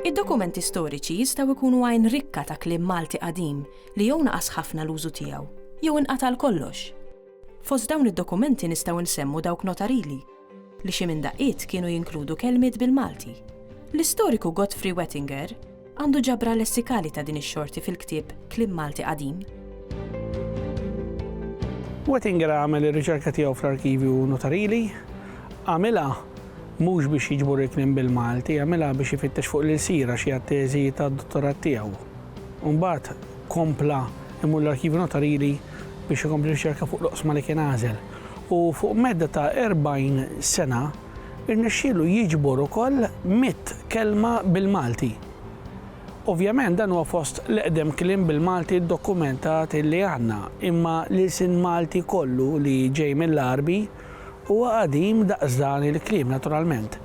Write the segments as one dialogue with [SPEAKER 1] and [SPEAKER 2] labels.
[SPEAKER 1] Id-dokumenti storiċi jistgħu jkunu għajn rikka ta' kliem Malti qadim li jew naqas ħafna l-użu tiegħu jew inqata' għal kollox. Fost dawn id-dokumenti nistgħu nsemmu dawk notarili, li xi minn daqqiet kienu jinkludu kelmiet bil-Malti. L-istoriku Godfrey Wettinger għandu ġabra lessikali ta' din ix-xorti fil-ktieb Kliem Malti Qadim.
[SPEAKER 2] Wettinger għamel ir-riċerka tiegħu fl-arkivju notarili. Għamilha mhux biex jiġbor il-kliem bil-Malti, għamilha biex ifittex fuq l-ilsira xi għat-teżi tad-dottorat tiegħu. U mbagħad kompla imur l-arkivju notarili biex ikompli riċerka fuq l-oqsma li kien għażel. u fuq medda ta' 40 sena rnexxielu jiġbor ukoll mitt kelma bil-Malti. Ovvjament dan huwa fost l-eqdem kliem bil-Malti ddokumentat li għandna imma l-ilsien Malti kollu li ġej mill-Għarbi huwa qadim daqs dan il-kliem naturalment.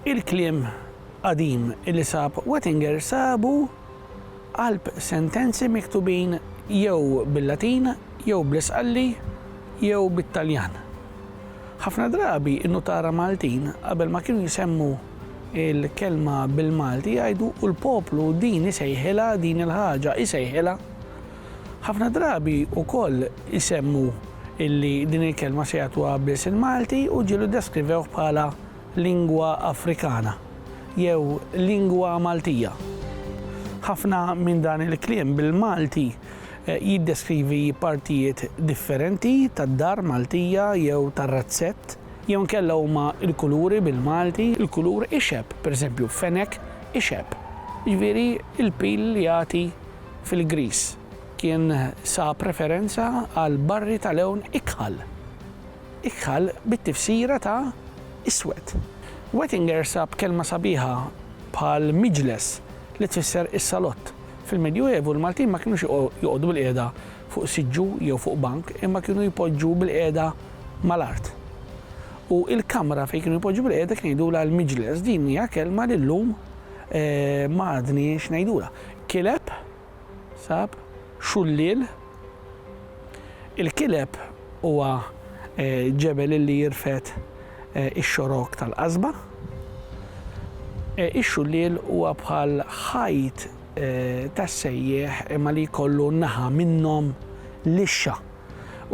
[SPEAKER 2] Il-kliem qadim li sab Wettinger sabu Qalb sentenzi miktubin jew bil-Latin jew bl-Isqalli jew bit-Taljan. Ħafna drabi n-nutara Maltin qabel ma kienu jsemmu l-kelma bil-Malti jgħidu u l-poplu din isejħilha din il-ħaġa isejħilha. Ħafna drabi wkoll isemmu illi din il-kelma se jagħtuha biss il-Malti u ġieli ddeskrivewh bħala lingwa Afrikana jew lingwa Maltija. Ħafna minn dan il-kliem bil-Malti jiddeskrivi partijiet differenti tad-dar Maltija jew tar-razzett, jew inkella huma l-kuluri bil-Malti, il-kulur ixeb, pereżempju, fenek ixeb, jiġifieri l-pil li jagħti fil-griż, kien sab referenza għal barri ta' lewn ikħal. Iqħal bit-tifsira ta' iswed. Wettinger sab kelma sabiħa bħal miġles li tfisser is-salott. Fil-Medjuevu, l-Maltin ma kinux joqogħdu bilqiegħda fuq siġġu jew fuq bank imma kienu jpoġġu bilqiegħda mal-art. U il-kamra fejn kienu jpoġġu bilqiegħda kien jgħidulha l-miġles. Din hija kelma li llum ma għadniex ngħidulha. Kileb? Sab. Xulliel. Il-Kileb huwa ġebel illi jirfed ix-xorok tal-qasba. Ix-Xulliel huwa bħal ħajt tas-sejjieħ imma li jkollu naħa minnhom lixxa.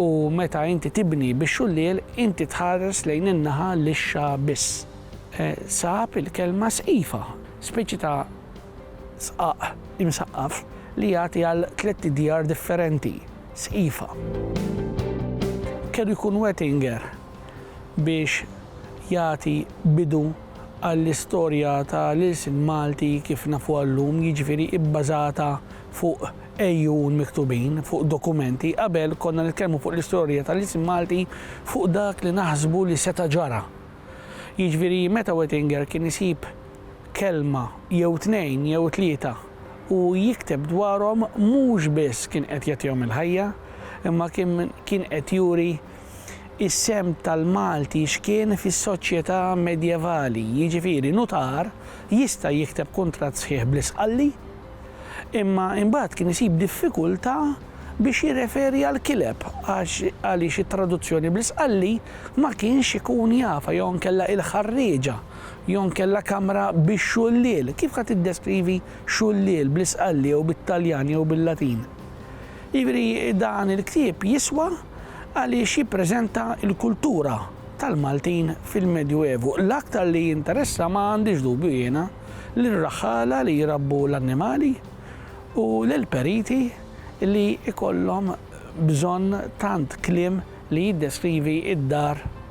[SPEAKER 2] U meta inti tibni bix-xulliel inti tħares lejn in-naħa lixxa biss. Sab il-kelma sqifa, speċi ta' Sqaq imsaqqaf li jagħti għal tlett djar differenti, sqifa. Kellu jkun Wettinger biex jagħti bidu għall-istorja ta' l-ilsien Malti kif nafuha llum, jiġifieri bbażata fuq għejun miktubin, fuq dokumenti. Qabel konna nitkellmu fuq l-istorja ta' l-ilsien Malti fuq dak li naħsbu li seta' ġara. Jiġifieri meta Wettinger kien isib kelma jew tnejn jew tlieta u jikteb dwarhom mhux biss kien qed jagħtihom il-ħajja imma kien qed juri s-sehem tal-Malti x'kien fis-soċjetà medjevali, jiġifieri nutar jista' jikteb kuntratt sħiħ bl-isqalli imma imbagħad kien isib diffikultà biex jirreferi għall-kileb għaliex it-traduzzjoni bl-isqalli ma kienx ikun jafha jew inkella il-ħarrieġa jew inkella kamra bix-xuliel. Kif ħa tiddeskrivi xuliel bl-Isqalli jew bit-Taljan jew bil-Latin? Jiġifieri dan il-ktieb jiswa għaliex jippreżenta l-kultura tal-Maltin fil-Medju Evu. L-aktar li jinteressa ma għandix dubju jiena lir-raħħala li jrabbu l-annimali u lill-periti li jkollhom bżonn tant kliem li jiddeskrivi d-dar